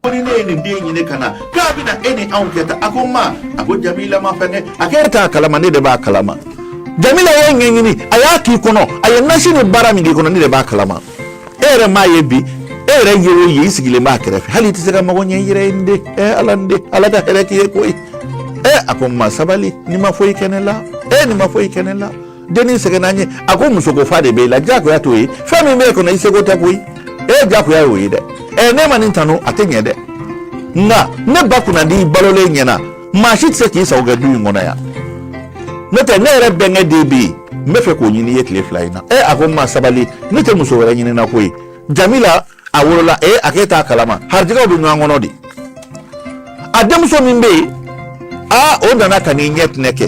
wani ne nin den ɲini ka na k'a bɛna e ni anw kɛ tan a ko ma a ko jamila ma fɛnkɛ a ko e t'a kalama ne de b'a kalama jamila ye ɲɛɲini a y'a k'i kɔnɔ a ye nasi ni baara min k'i kɔnɔ ne de b'a kalama e yɛrɛ m'a ye bi e yɛrɛ ye o ye i sigilen b'a kɛrɛfɛ hali i tɛ se ka mago ɲɛ i yɛrɛ ye n den ɛ ala n den ala ka hɛrɛ k'i ye koyi ɛ a ko ma sabali nin ma foyi kɛ ne la e nin ma foyi kɛ ne la dennin sɛgɛnna an ye a ko musoko fa de b'e la diyagoya t'o ye fɛn min b'e kɔnɔ i seko tɛ koyi ee diyagoya y'o ye dɛ ɛ ne ma nin tanu a tɛ ɲɛ dɛ nka ne ba kunnadi balolen ɲɛna maa si tɛ se k'i sago kɛ du in kɔnɔ yan n'o tɛ ne yɛrɛ bɛnkɛ den bɛ yen n bɛ fɛ k'o ɲini i ye tile fila in na ɛ a ko n ma sabali ne tɛ muso wɛrɛ ɲini na koyi jamila a wolola e a k'e t'a kalama harijɛgɛw bɛ ɲɔgɔn kɔnɔ de a denmuso min bɛ yen aa o nana ka n'i ɲɛ tinɛ kɛ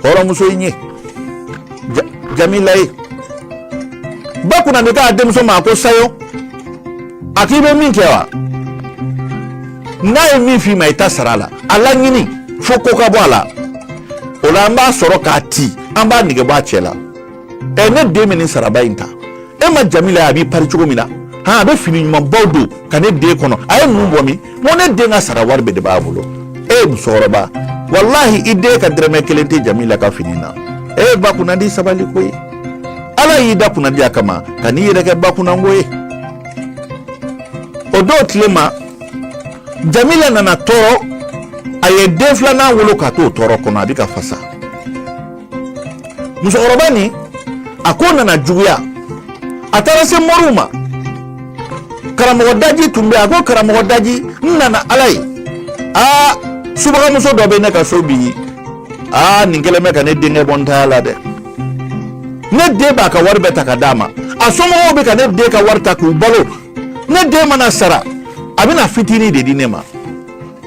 hɔrɔnmuso in ye jamila ye ba kunnadi k'a denmuso ma ko sayo a k'i bɛ min kɛ wa n'a ye min f'i ma i ta sara a la a laɲini fo ko ka bɔ a la o la an b'a sɔrɔ k'a ti an b'a nege bɔ a cɛ la ɛ ne den bɛ nin saraba in ta e ma jamila a b'i pari cogo min na han a bɛ fini ɲumanbaw don ka ne den kɔnɔ a ye ninnu bɔ min n ko ne den ka sara wari bɛɛ de b'a bolo ee musokɔrɔba walahi i den ka dɛrɛmɛ kelen tɛ jamila ka fini na ee ba kunnadi sabali koyi ala y'i da kunnadiya kama kan'i yɛrɛ kɛ ba kunnango ye o dɔw tile ma jamila nana tɔɔrɔ a ye den filanan wolo ka t'o tɔɔrɔ kɔnɔ a bɛ ka fasa musokɔrɔba nin a ko nana juguya a taara se moriw ma karamɔgɔ daji tun bɛ a ko karamɔgɔ daji n nana ala ye aa subagamuso dɔ bɛ ne ka so bi aa nin kɛlen bɛ ka ne denkɛ bɔ n taya la dɛ ne den b'a ka wari bɛɛ ta ka d'a ma a somɔgɔw bɛ ka ne den ka wari ta k'u balo ne den mana sara a bɛna fitinin de di ne ma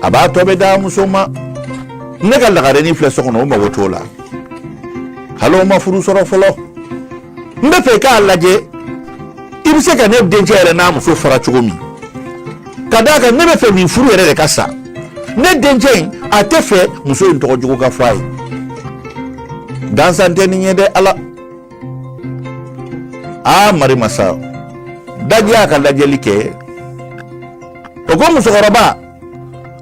a b'a tɔ bɛɛ d'a muso ma ne ka lagarenin filɛ so kɔnɔ o mago t'o la hali o ma furu sɔrɔ fɔlɔ n bɛ fɛ k'a lajɛ i bɛ se ka ne dencɛ yɛrɛ n'a muso fara cogo min ka d'a kan ne bɛ fɛ nin furu yɛrɛ de ka sa ne dencɛ in a tɛ fɛ muso in tɔgɔ jugu ka fɔ a ye gansan tɛ nin ye dɛ ala aa marimasa daji y'a ka lajɛli kɛ o ko musokɔrɔba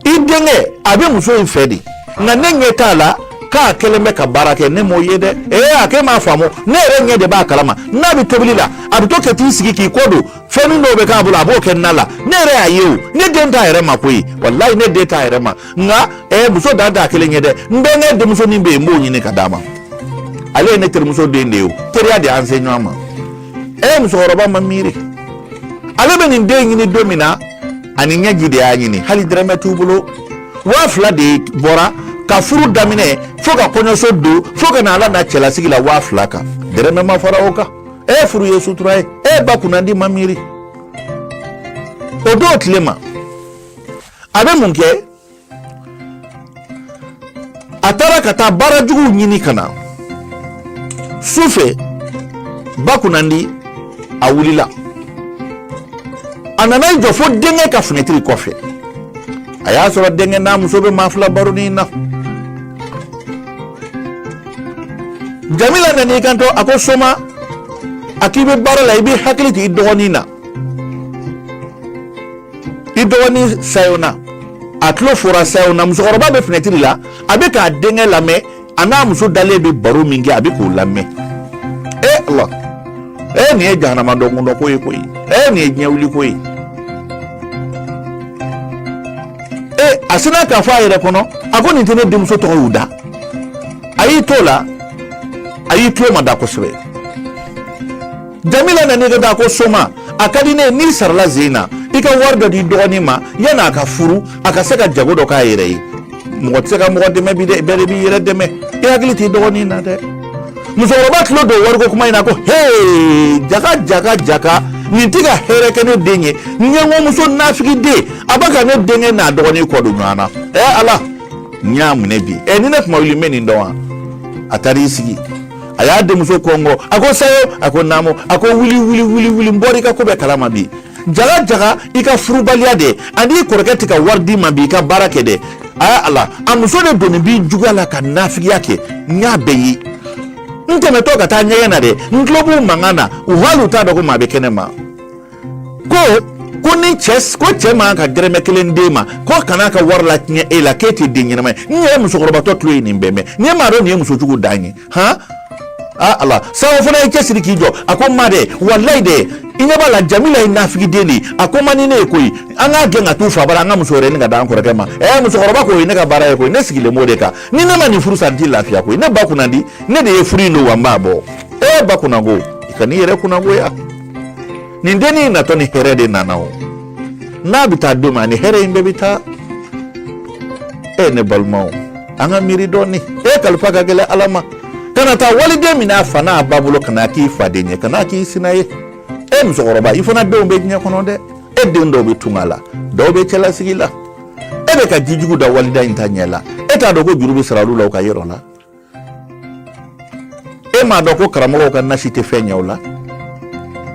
i denkɛ a bɛ muso in fɛ de nka ne ɲɛ t'a la k'a kɛlen bɛ ka baara kɛ ne m'o ye dɛ ee a k'e m'a faamu ne yɛrɛ ɲɛ de b'a kalama n'a bɛ tobili la a bɛ to ka t'i sigi k'i kɔ don fɛnnin dɔw bɛ k'a bolo a b'o kɛ na la ne yɛrɛ y'a ye o ne den t'a yɛrɛ ma koyi walayi ne den t'a yɛrɛ ma nka ɛɛ muso dan t'a kelen ye dɛ n bɛnkɛ denmusonin bɛ yen n b'o ɲini ka d'a ma ale ye ne terimuso den de ye o teriya de y'an se ɲɔgɔn ma ɛɛ musokɔrɔba ma miiri ale bɛ nin den ɲini don min na a ni ɲɛji de y'a ɲini hali dɛrɛmɛ t'u bolo waa fila de bɔra ka furu daminɛ fo ka kɔɲɔso don fo ka na a lana cɛlasigi la waa fila kan dɛrɛmɛ ma fara o kan e furu ye sutura ye e ba kunnandi ma miiri o don tile ma a bɛ mun kɛ a taara ka taa baara juguw ɲini ka na su fɛ ba kunnandi a wulila a nana i jɔ fo denkɛ ka finɛtiri kɔfɛ a y'a sɔrɔ denkɛ n'a muso bɛ maa fila baroni na jamila nan'i kanto a ko soma a k'i bɛ baara la i b'i hakili t'i dɔgɔnin na i dɔgɔnin sayo na a tulo fora sayo na musokɔrɔba bɛ finɛtiri la a bɛ k'a denkɛ lamɛn a n'a muso dalen bɛ baro min kɛ a bɛ k'o lamɛn e ala e nin ye jahanama donkun dɔ ko ye koyi e nin ye diɲɛwuli ko ye e a sinna k'a fɔ a yɛrɛ kɔnɔ a ko nin tɛ ne denmuso tɔgɔ y'u da a y'i t'o la a y'i tulo mada kosɛbɛ jamila nan'i kanto a ko soma a ka di ne ye n'i sarala zen na i ka wari dɔ d'i dɔgɔnin ma yanni a ka furu a ka se ka jago dɔ k'a yɛrɛ ye mɔgɔ tɛ se ka mɔgɔ dɛmɛ bi dɛ bɛɛ de b'i yɛrɛ dɛmɛ i hakili t'i dɔgɔnin na dɛ musokɔrɔba tulo don wariko kuma in na ko hee jaka jaka jaka nin tɛ ka hɛrɛ kɛ ne den ye ɲɛngomuso nafigiden a bɛ ka ne denkɛ n'a dɔgɔnin kɔ don ɲɔgɔn na ɛ ala n y'a minɛ bi ɛ ni ne tun ma wuli n bɛ nin dɔn wa a taara i sigi a y'a denmuso kɔnkɔn a ko sayo a ko naamu a ko wuli wuli wuli wuli n bɔra i ka ko bɛɛ kalama bi jaga jaga i ka furubaliya de ani i kɔrɔkɛ tɛ ka wari d'i ma bi i ka baara kɛ dɛ aa ala a muso de donnen b'i juguya la ka nafigiya kɛ n y'a bɛɛ ye n tɛmɛtɔ ka taa ɲɛgɛn na dɛ n tulo b'u mankan na u hali u t'a dɔn ko maa bɛ kɛnɛ ma ko ko ni cɛ ko cɛ man ka dɛrɛmɛ kelen d'e ma ko kan'a ka wari latiɲɛ e la k'e tɛ den ɲɛnama ye n yɛrɛ musokɔrɔbatɔ tulo ye nin bɛɛ mɛn n'i m'a dɔn nin ye muso jugu dan ye han aa ala sayo fana y'i cɛsiri k'i jɔ a ko n ma dɛ walayi dɛ i ɲɛ b'a la jamila ye nafigiden de ye a ko man di ne ye koyi an k'a gɛn ka t'u fa bara an ka muso wɛrɛ ɲini ka d'an kɔrɔkɛ ma ɛɛ musokɔrɔba ko o ye ne ka baara ye koyi ne sigilen b'o de kan ni ne ma nin furu sa n tɛ lafiya koyi ne ba kunnandi ne de ye furu in don wa n b'a bɔ ee ba kunnango i kan'i yɛrɛ kunnangoya nin dennin natɔ ni hɛrɛ de nana o n'a bɛ taa don min ani hɛrɛ in bɛɛ bɛ taa e ne balimaw an ka miiri dɔɔni e kalifa ka gɛlɛn ala ma kana taa waliden minɛ a fa n'a ba bolo ka n'a k'i faden ye ka n'a k'i sina ye e musokɔrɔba i fana denw bɛ diɲɛ kɔnɔ dɛ e den dɔw bɛ tunga la dɔw bɛ cɛlasigi la e bɛ ka jijugu da waliden in ta ɲɛ la e t'a dɔn ko juru bɛ sara olu la u ka yɔrɔ la e m'a dɔn ko karamɔgɔw ka nasi tɛ fɛn ɲɛ u la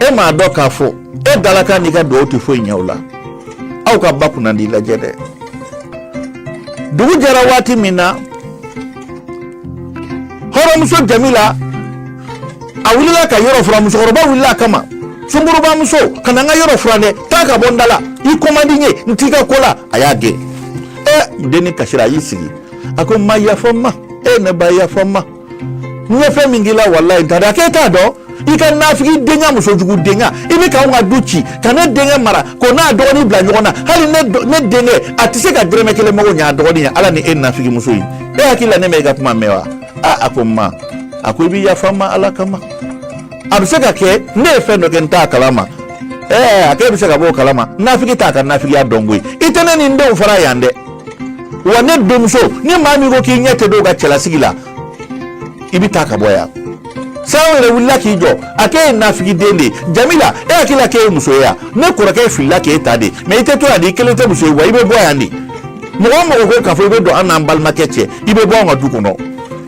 e m'a dɔn k'a fɔ e dalaka n'i ka dugawu tɛ foyi ɲɛ u la aw ka ba kunnandi lajɛ dɛ dugu jɛra waati min na hɔrɔnmuso jamila a wulila ka yɔrɔ fura musokɔrɔba wulila a kama sungurunba muso kana n ka yɔrɔ fura dɛ taa ka bɔ n da la i ko man di n ye n t'i ka ko la a y'a gɛn ɛ dennin kasira a y'i sigi a ko ma yafa ma e ne ba yafa ma n ye fɛn min k'i la walayi n t'a dɔn a k'e t'a dɔn i ka nafigidenya musojugudenya i bɛ k'anw ka du ci ka ne denkɛ mara k'o n'a dɔgɔnin bila ɲɔgɔn na hali ne ne denkɛ a tɛ se ka dɛrɛmɛ kelen mago ɲɛ a dɔgɔnin ye ala ni e nafigi muso ye e hakili la ne ma i ka kuma mɛn wa aa a ko ma a ko i bɛ yafa ma ala kama a bɛ se ka kɛ ne ye fɛn dɔ kɛ n t'a kalama ɛɛ a k'e bɛ se ka bɔ o kalama nafigi t'a ka nafigiya dɔn koyi i tɛ ne ni n denw fara yan dɛ wa ne denmuso ni maa min ko k'i ɲɛ tɛ d'o ka cɛlasigi la i bɛ taa ka bɔ yan sawo yɛrɛ wulila k'i jɔ a k'e ye nafigiden de ye jamila e hakili la k'e ye muso ye yan ne kɔrɔkɛ filila k'e ta de mɛ i tɛ to yan de i kelen tɛ muso ye wa i bɛ bɔ yan de mɔgɔ o mɔgɔ ko k'a fɔ i bɛ don an n'an balimakɛ cɛ i bɛ bɔ an ka du kɔnɔ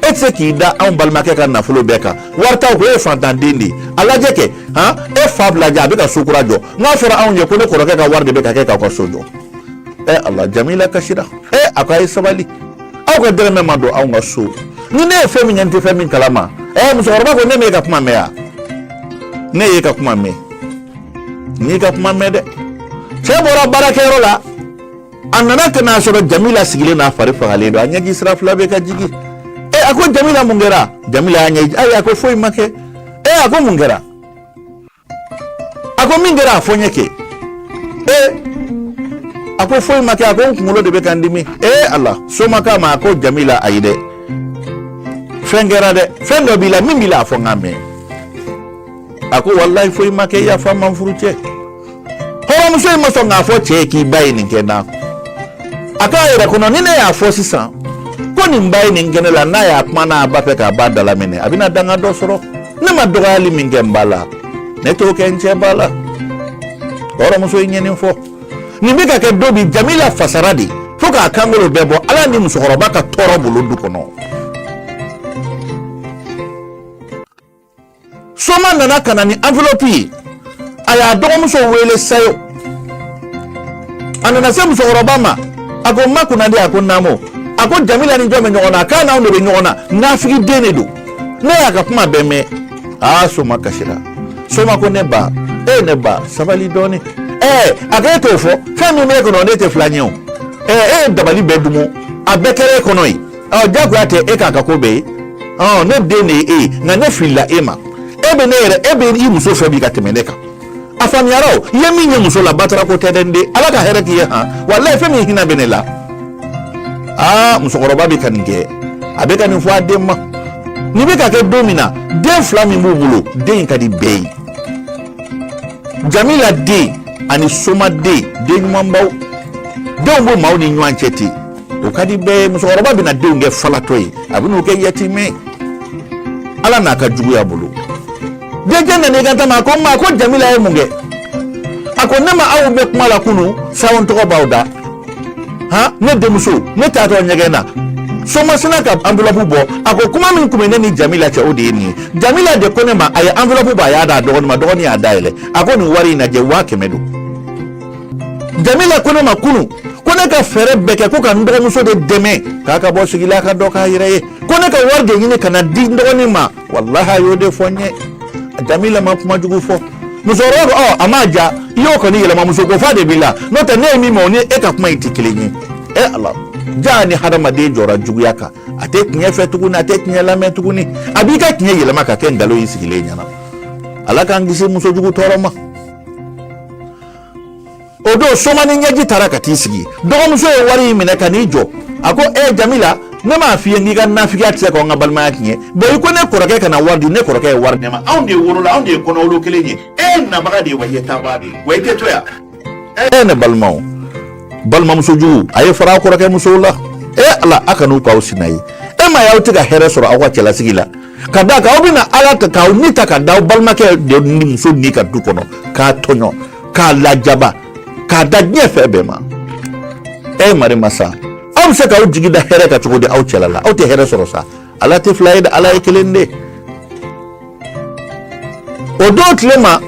e tɛ se k'i da anw balimakɛ ka nafolo bɛɛ kan wari t'aw kun e ye fantanden de ye a lajɛ kɛ han e fa bila jɛ a bɛ ka so kura jɔ nk'a fɔra anw ye ko ne kɔrɔkɛ ka wari de bɛ ka kɛ k'aw ka so jɔ ɛ ala jamila kasira ɛ a ko a ye sabali aw ka dɛrɛmɛ ma don anw ka so ni ne ye fɛn min ɲɛ n tɛ fɛn min kalama ɛ musokɔrɔba ko ne m'e ka kuma mɛn wa ne y'e ka kuma mɛn n y'i ka kuma mɛn dɛ cɛ bɔra baarakɛyɔrɔ la a nana ka n'a sɔrɔ jamila sigilen n'a fari fagalen don a ɲɛji sira fila bɛ ka jigi ɛ a ko jamila mun kɛra jamila y'a ɲɛji ayi a ko foyi ma kɛ ɛ a ko mun kɛra a ko min kɛra a fɔ n ye kɛ ee a ko foyi ma kɛ a ko n kunkolo de bɛ ka n dimi ee ala somaka ma a ko jamila ayi dɛ fɛn kɛra dɛ fɛn dɔ b'i la min b'i la a fɔ n ka mɛn a ko walayi foyi ma kɛ yafa ma n furucɛ hɔrɔnmuso in ma sɔn k'a fɔ cɛ ye k'i ba ye nin kɛ n na a k'a yɛrɛ kɔnɔ ni ne y'a fɔ sisan ko nin ba ye nin kɛ ne la n'a y'a mɛn a b'a fɛ k'a ba dalaminɛ a bɛna danga dɔ sɔrɔ ne ma dɔgɔyali min kɛ n ba la ne t'o kɛ n cɛ ba la hɔrɔnmuso in ye nin fɔ nin bɛ ka kɛ don bi jamila fasara de fo k'a kankolo bɛɛ bɔ ala ni musokɔrɔba ka tɔɔrɔ bolo du kɔnɔ soma nana ka na ni enveloppe ye a y'a dɔgɔmuso wele sayo a nana se musokɔrɔba ma a ko n ma kunnadi a ko naamu a ko jamila ni jɔn bɛ ɲɔgɔn na a k'a n'anw de bɛ ɲɔgɔn na nafigiden de don ne y'a ka kuma bɛɛ mɛn aa soma kasira soma ko ne ba ee ne ba sabali dɔɔni ɛɛ a ko e t'o fɔ fɛn min b'e kɔnɔ ne tɛ fil'a ɲɛ o ɛɛ e ye dabali bɛɛ dumu a bɛɛ kɛra e kɔnɔ yen ɔ jagoya tɛ e k'a ka ko bɛɛ ye ɔ ne den de ye e ye nka ne filila e ma e bɛ ne yɛrɛ e bɛ i muso fɛ bi ka tɛmɛ ne kan a faamuyara o i ye min ye muso la batara ko tɛ dɛ n den ala ka hɛrɛ k'i ye han walayi fɛn min hinɛ bɛ ne la aa musokɔrɔba bɛ ka nin kɛ a bɛ ka nin fɔ a den ma nin bɛ ka kɛ don min na den fila min b'u bolo den in ka di bɛɛ ye jamila den ani soma den den ɲumanbaw denw b'u maaw ni ɲɔgɔn cɛ ten o ka di bɛɛ ye musokɔrɔba bɛna denw kɛ falatɔ ye a bɛna u kɛ yatimɛ ye ala n'a ka juguya bolo denkɛ nana i kant'a ma a ko ma ko jamila ye mun kɛ a ko ne ma aw mɛn kuma la kunu sayo tɔgɔ b'aw da han ne denmuso ne taatɔ ɲɛgɛn na soma sinna ka enveloppe bɔ a ko kuma min tun bɛ ne ni jamila cɛ o de ye nin ye jamila de ko ne ma a ye enveloppe bɔ a y'a d'a dɔgɔnin ma dɔgɔnin y'a dayɛlɛ a ko nin wari in lajɛ waa kɛmɛ don jamila ko ne ma kunun ko ne ka fɛɛrɛ bɛɛ kɛ ko ka n dɔgɔmuso de dɛmɛ k'a ka bɔ sigi la ka dɔ k'a yɛrɛ ye ko ne ka wari de ɲini ka na di n dɔgɔnin ma walahi a y'o de fɔ n ye jamila ma kuma jugu fɔ musokɔrɔba ko ɔ a m'a ja i y'o kɔni yɛlɛma musoko fa de b'i la n'o tɛ ne ye min mɛn o ni e ka kuma in tɛ kelen ye e ala jaa ni hadamaden jɔra juguya kan a tɛ tiɲɛ fɛ tuguni a tɛ tiɲɛ lamɛn tuguni a b'i ka tiɲɛ yɛlɛma ka kɛ nkalon ye i sigilen ɲɛna ala k'an kisi muso jugu tɔɔrɔ ma o don soma ni ɲɛji taara ka t'i sigi dɔgɔmuso ye wari in minɛ ka n'i jɔ a ko e jamila ne m'a f'i ye k'i ka nafigiya tɛ se k'an ka balimaya tiɲɛ bɔn i ko ne kɔrɔkɛ kana wari di ne kɔrɔkɛ ye wari di ne ma anw de wolola anw de ye kɔnɔwolo kelen ye e nabaga de ye wa e taabaa de ye wa i tɛ to yan e ne balimaw balimamuso jugu a ye fara a kɔrɔkɛ musow la e ala a kan'u k'aw sina ye e m'a y'aw tɛ ka hɛrɛ sɔrɔ aw ka cɛlasigi la ka d'a kan aw bɛna ala ta k'aw ni ta ka da aw balimakɛ de muso nin kan du kɔnɔ k'a tɔɲɔ k'a lajaba k'a da diɲɛ fɛn bɛɛ ma ɛ mari masa aw bɛ se k'aw jigi da hɛrɛ kan cogo di aw cɛla la aw tɛ hɛrɛ sɔrɔ sa ala tɛ fila ye dɛ ala ye kelen de o don tile ma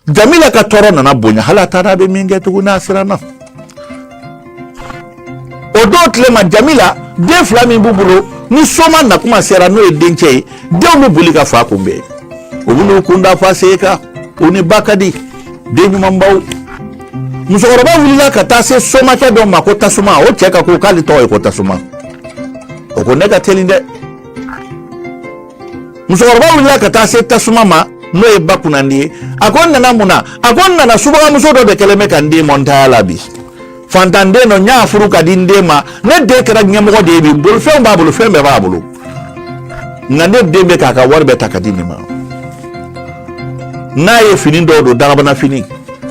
jamila ka tɔɔrɔ nana bonya hali a t'a dɔn a bɛ min kɛ tugun a siranna o don tilema jamila den fila min b'u bolo ni soma nakuma sera n'o ye dencɛ ye denw bɛ boli ka fa kunbɛn u bɛ n'u kun da fa sen kan u ni ba ka di den ɲumanbaw musokɔrɔba wulila ka taa se somakɛ dɔ ma ko tasuma o cɛ ka ko k'ale tɔgɔ ye ko tasuma o ko ne ka teli dɛ musokɔrɔba wulila ka taa se tasuma ma n'o ye ba kunnandi ye a ko n nana mun na a ko n nana subagamuso dɔ de kɛlen bɛ ka n den bɔ n taya la bi fantanden dɔ n y'a furu ka di n den ma ne den kɛra ɲɛmɔgɔ de ye bi bolifɛnw b'a bolo fɛn bɛɛ b'a bolo nka ne den bɛ k'a ka wari bɛɛ ta ka di nin ma n'a ye fini dɔw don dagabana fini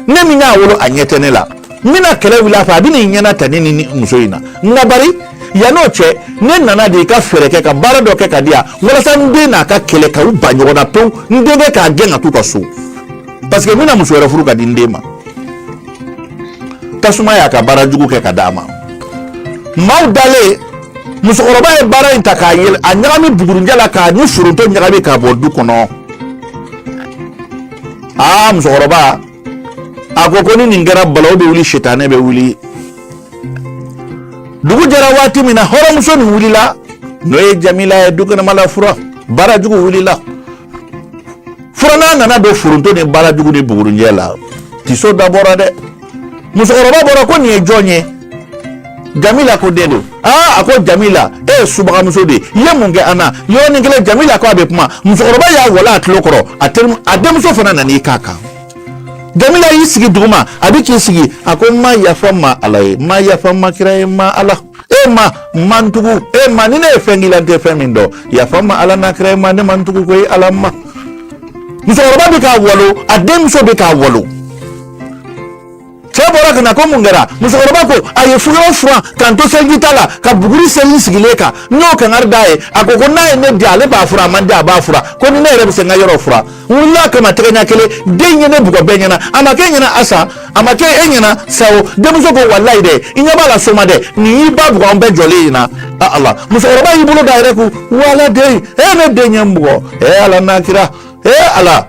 ne min y'a wolo a ɲɛ tɛ ne la n bɛna kɛlɛ wuli a fɛ a bɛ n'i ɲɛnata ne ni muso in na nka bari yan n'o cɛ ne nana de i ka fɛɛrɛ kɛ ka baara dɔ kɛ ka di yan walasa n den n'a ka kɛlɛ ka u ban ɲɔgɔn na pewu n denkɛ k'a gɛn ka t'u ka so parce que n bɛna muso wɛrɛ furu ka di n den ma tasuma y'a ka baara jugu kɛ ka d'a ma maaw dalen musokɔrɔba ye baara in ta k'a yɛlɛ a ɲagami bugurinjɛ la k'a ni foronto ɲagami k'a bɔn du kɔnɔ aa musokɔrɔba a ko ko ni nin kɛra balaw bɛ wuli sitanɛ bɛ wuli dugu jɛra waati min na hɔrɔnmuso nin wulila n'o ye jamila ye du kɛnɛma la fura baarajugu wulila furanna nana don foronto ni baarajugu ni bugurinjɛ la tiso da bɔra dɛ musokɔrɔba bɔra ko nin ye jɔn ye jamila ko ne don aa a ko jamila e ye subagamuso de ye i ye mun kɛ an na yɔrɔnin kelen jamila ko a bɛ kuma musokɔrɔba y'a walon a tulo kɔrɔ a denmuso fana nan'i k'a kan jamila y'i sigi duguma a bɛ k'i sigi a ko ma yafa n ma ala ye ma yafa n ma kira ye ma ala e ma n ma n tugu e ma ni ne ye fɛn k'i la n tɛ fɛn min dɔn yafa n ma ala n'a kira ye ma ne ma n tugu koyi ala ma musokɔrɔba bɛ k'a walon a denmuso bɛ k'a walon cɛ bɔra ka na ko mun kɛra musokɔrɔba ko a ye fura o fura ka n to seliji ta la ka buguri seri n sigilen kan n'o kangari d'a ye a ko ko n'a ye ne diya ale b'a fura a ma n diya a b'a fura ko ni ne yɛrɛ bɛ se n ka yɔrɔ fura n wulila kama tɛgɛ ɲɛ kelen den ye ne bugɔ bɛɛ ɲɛna a ma kɛ ɲɛna asa a ma kɛ e ɲɛna sa wo denmuso ko walayi dɛ i ɲɛ b'a la soma dɛ nin y'i ba bugɔ an bɛɛ jɔlen in na a ala musokɔrɔba y'i bolo d'i yɛrɛ kun walayi dɛ ne den ye n bugɔ e ala n'a kira e ala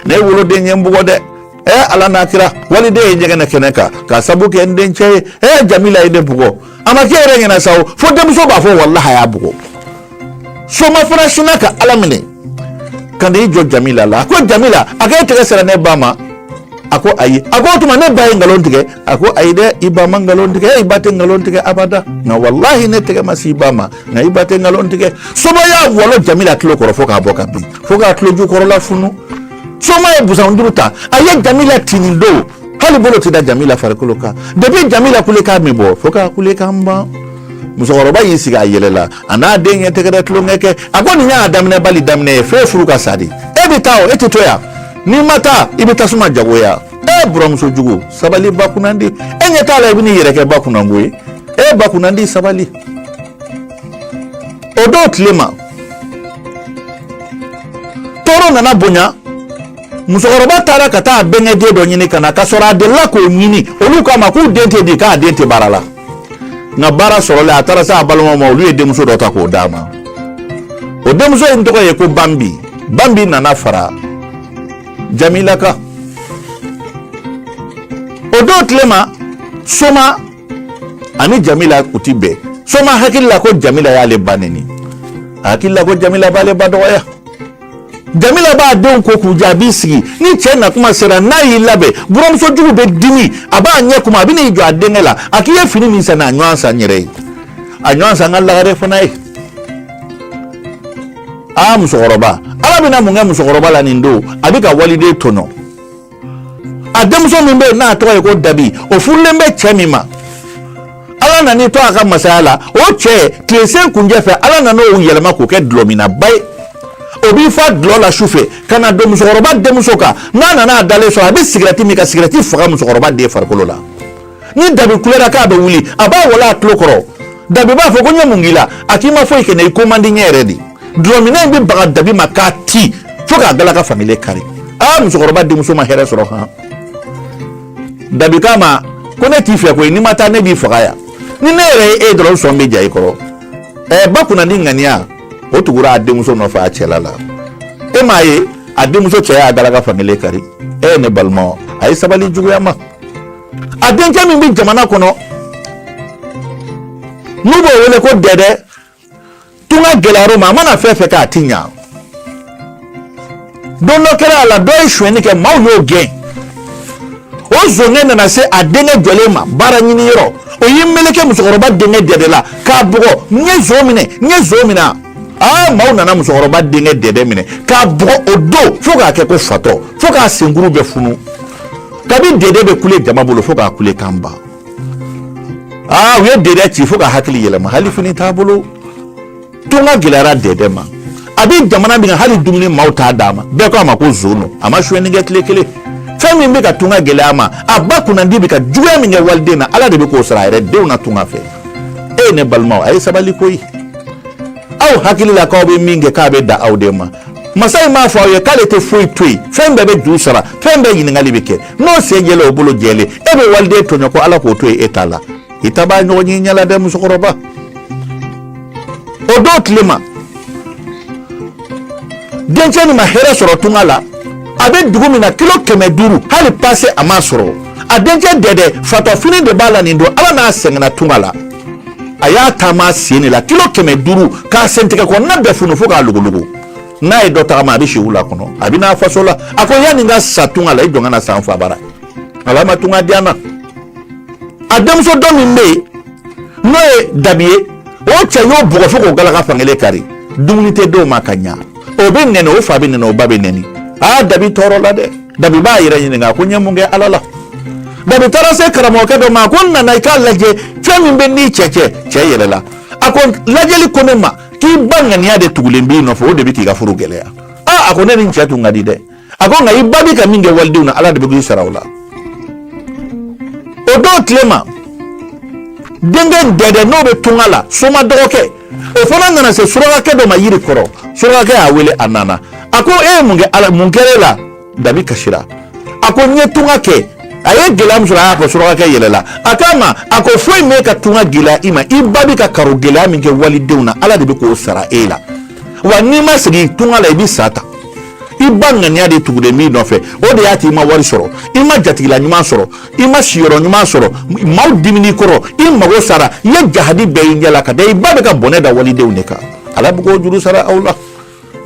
ne woloden ye n bugɔ dɛ ɛ ala n'a kira waliden ye ɲɛgɛnɛ kɛ ne kan k'a sabu kɛ n dencɛ ye ɛ jamila ye ne bugɔ a ma k'e yɛrɛ ɲɛna sa o fo denmuso b'a fɔ walahi a y'a bugɔ soma fana sinna k'a laminɛ ka n'i jɔ jamila la a ko jamila a k'e tɛgɛ sera ne ba ma a ko ayi a ko o tuma ne ba ye nkalon tigɛ a ko ayi dɛ i ba ma nkalon tigɛ i ba tɛ nkalon tigɛ abada nka walahi ne tɛgɛ ma se i ba ma nka i ba tɛ nkalon tigɛ soma y'a walon jamila tulo kɔrɔ fo k'a bɔ ka bin fo k'a tuloju kɔrɔla funu soma ye busan duuru ta a ye jamila ti nin don hali bolo tɛ da jamila farikolo kan depi jamila kulekan bɛ bɔ fo k'a kulekan ban musokɔrɔba y'i sigi a yɛlɛla a n'a den ye tɛgɛrɛ tulonkɛ kɛ a ko nin y'a daminɛ bali daminɛ ye f'e furu ka sa de e bɛ taa o e tɛ to yan n'i ma taa i bɛ tasuma jagoya e buramuso jugu sabali ba kunnandi e ɲɛ t'a la i bɛ n'i yɛrɛ kɛ ba kunnango ye e ba kunnandi sabali o don tilema tɔɔrɔ nana bonya musokɔrɔba taara ka taa a bɛnkɛ den dɔ ɲini ka na ka sɔrɔ a delila k'o ɲini olu k'a ma k'u den tɛ di k'a den tɛ baara la nka baara sɔrɔlen a taara se a balimaw ma olu ye denmuso dɔ ta k'o d'a ma o denmuso in tɔgɔ ye ko bambi bambi nana fara jamila kan o don tilema soma ani jamila u ti bɛn soma hakili la ko jamila y'ale ba neni a hakili la ko jamila b'ale ba dɔgɔya jamila b'a denw ko k'u jɛ a b'i sigi ni cɛ na kuma sera n'a y'i labɛn buramuso jugu bɛ dimi a b'a ɲɛ kumu a bɛ n'i jɔ a denkɛ la a k'i ye fini min san a ɲɔgɔn san n yɛrɛ ye a ɲɔgɔn san n ka lagare fana ye aa musokɔrɔba ala bɛna mun kɛ musokɔrɔba la nin don a bɛ ka waliden tɔnɔ a denmuso min bɛ yen n'a tɔgɔ ye ko dabi o furulen bɛ cɛ min ma ala nan'i to a ka masaya la o cɛ tilesenkuncɛ fɛ ala nan'o yɛlɛma k'o kɛ dulɔminnaba ye o b'i fa dulɔ la su fɛ ka na don musokɔrɔba denmuso kan n'a nana a dalen sɔrɔ a bɛ sigɛrɛti min ka sigɛrɛti faga musokɔrɔba den farikolo la ni dabi kulera k'a bɛ wuli a b'a walon a tulo kɔrɔ dabi b'a fɔ ko n ye mun k'i la a k'i ma foyi kɛ ne i ko man di n ye yɛrɛ de dulɔminna in bɛ baga dabi ma k'a ti fo k'a galaka fankelen kari aa musokɔrɔba denmuso ma hɛrɛ sɔrɔ han dabi k'a ma ko ne t'i fɛ koyi n'i ma taa ne b'i faga yan ni ne yɛrɛ ye e dɔrɔn sɔn bɛ ja i kɔrɔ ɛɛ ba kunna ni ŋaniya o tugura a denmuso nɔfɛ a cɛla la e m'a ye a denmuso cɛ y'a galaka fankelen kari e ye ne balimaw a ye sabali juguya ma a denkɛ min bɛ jamana kɔnɔ n'u b'o wele ko dɛdɛ tunga gɛlɛyara o ma a mana fɛn fɛn kɛ a ti ɲa don dɔ kɛra a la dɔ ye sonyɛni kɛ maaw y'o gɛn o zonkɛ nana se a denkɛ jɔlen ma baara ɲini yɔrɔ o y'i meleke musokɔrɔba denkɛ dɛdɛ la k'a bugɔ n ye zon minɛ n ye zon minɛ aa maaw nana musokɔrɔba denkɛ dɛdɛ minɛ k'a bugɔ o don fo k'a kɛ ko fatɔ fo k'a senkuru bɛɛ funu kabi dɛdɛ bɛ kule jama bolo fo k'a kulekan ban aa u ye dɛdɛ ci fo k'a hakili yɛlɛma hali fini t'a bolo tunga gɛlɛyara dɛdɛ ma a bɛ jamana min kan hali dumuni maaw t'a d'a ma bɛɛ ko a ma ko zon don a ma sonyɛni kɛ tile kelen fɛn min bɛ ka tunga gɛlɛya a ma a ba kunnandi bɛ ka juguya min kɛ waliden na ala de bɛ k'o sara a yɛrɛ denw na tunga fɛ e ye ne balimaw a ye sabali koyi aw hakili la k'aw bɛ min kɛ k'a bɛ dan aw de ma masa in m'a fɔ aw ye k'ale tɛ foyi to yen fɛn bɛɛ bɛ juru sara fɛn bɛɛ ɲininkali bɛ kɛ n'o sen jɛlen o bolo jɛlen e bɛ waliden tɔɲɔ ko ala k'o to yen e t'a la i ta b'a ɲɔgɔn ye i ɲɛ la dɛ musokɔrɔba o don tile ma dencɛ nin ma hɛrɛ sɔrɔ tunga la a bɛ dugu min na kilo kɛmɛ duuru hali pase a m'a sɔrɔ a dencɛ dɛdɛ fatɔfini de b'a la nin don ala n'a sɛgɛnna tunga la a y'a taama sen de la kilo kɛmɛ duuru k'a sentɛgɛ kɔnɔna bɛɛ funu fo k'a logologo n'a ye dɔ tagama a bɛ si wula kɔnɔ a bɛ n'a faso la a ko yanni n ka sa tunga la i jɔ n ka na sa n fa bara ala ma tunga diya n na a denmuso dɔ min bɛ yen n'o ye dabi ye o cɛ y'o bugɔ fo k'o galaka fankelen kari dumuni tɛ d'o ma ka ɲa o bɛ nɛni o fa bɛ nɛni o ba bɛ nɛni aa dabi tɔɔrɔla dɛ dabi b'a yɛrɛ ɲininka ko n ye mun kɛ ala la dabi taara se karamɔgɔkɛ dɔ ma ko n nana i k'a lajɛ fɛn min bɛ n ni n cɛ cɛ cɛ yɛlɛla a ko lajɛli ko ne ma k'i ba ŋaniya de tugulen b'i nɔfɛ o de bɛ k'i ka furu gɛlɛya aa a ko ne ni n cɛ tun ka di dɛ a ko nka i ba bɛ ka min kɛ walidenw na ala de bɛ k'i sara o la o don tile ma denkɛ dɛdɛ n'o bɛ tunga la soma dɔgɔkɛ o fana nana se surakakɛ dɔ ma yiri kɔrɔ surakakɛ y'a wele a nana a ko e ye mun kɛ ala mun kɛra e la dabi kasira a ko n ye tunga kɛ a ye gɛlɛya min sɔrɔ a y'a fɔ surakakɛ yɛlɛla a k'a ma a ko foyi m'e ka tunga gɛlɛya i ma i ba bɛ ka karo gɛlɛya min kɛ walidenw na ala de bɛ k'o sara e la wa n'i ma segin tunga la i bɛ sa ta i ba ŋaniya de tugulen b'i nɔfɛ o de y'a to i ma wari sɔrɔ i ma jatigila ɲuman sɔrɔ i ma siyɔrɔ ɲuman sɔrɔ maaw dimina i kɔrɔ i mago sara i ye jahadi bɛɛ y'i ɲɛ la ka da i ba bɛ ka bɔnɛ da walidenw de kan ala bɛ k'o juru sara aw la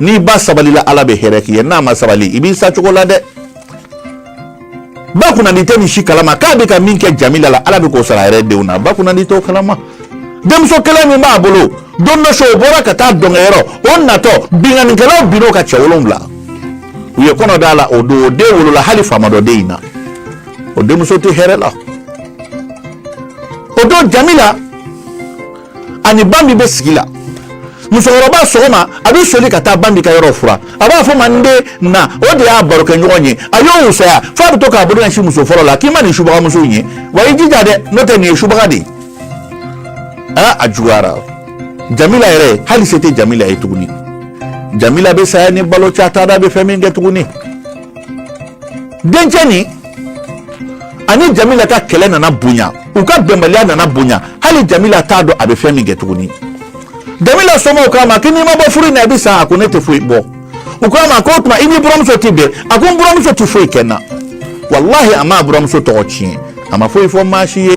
n'i ba sabalila ala bɛ hɛrɛ k'i ye n'a ma sabali i b'i sa cogo la dɛ ba kunnadi tɛ nin si kalama k'a bɛ ka min kɛ jamila la ala bɛ k'o sara a yɛrɛ denw na ba kunnadi t'o kalama denmuso kelen min b'a bolo don dɔ su o bɔra ka taa dɔnkɛyɔrɔ o natɔ binkannikɛlaw binn'o kan cɛ wolonwula u ye kɔnɔ d'a la o don o den wolola hali fa ma dɔn den in na o denmuso tɛ hɛrɛ la o don jamila ani banbi bɛ sigi la musokɔrɔba sɔgɔma a bɛ soli ka taa banbi ka yɔrɔ furan a b'a fɔ ma n den na o de y'a barokɛɲɔgɔn ye a y'o wusaya f'a bɛ to k'a bolo ɲɛsin muso fɔlɔ la k'i ma nin subagamuso in ye wa i jija dɛ n'o tɛ nin ye subaga de ye aa a juguyara jamila yɛrɛ hali se tɛ jamila ye tuguni jamila bɛ saya ni balo cɛ a t'a dɔn a bɛ fɛn min kɛ tuguni dencɛ nin ani jamila ka kɛlɛ nana bonya u ka bɛnbaliya nana bonya hali jamila t'a dɔn a bɛ fɛn min kɛ tuguni jamila somaaw k'a ma k'i n'i ma bɔ furu in na i bɛ sa a ko ne tɛ foyi bɔ u k'a ma k'o tuma i n'i buranmuso tɛ bɛn a ko n buranmuso tɛ foyi kɛ n na walahi a ma buranmuso tɔgɔ tiɲɛ a ma foyi fɔ maa si ye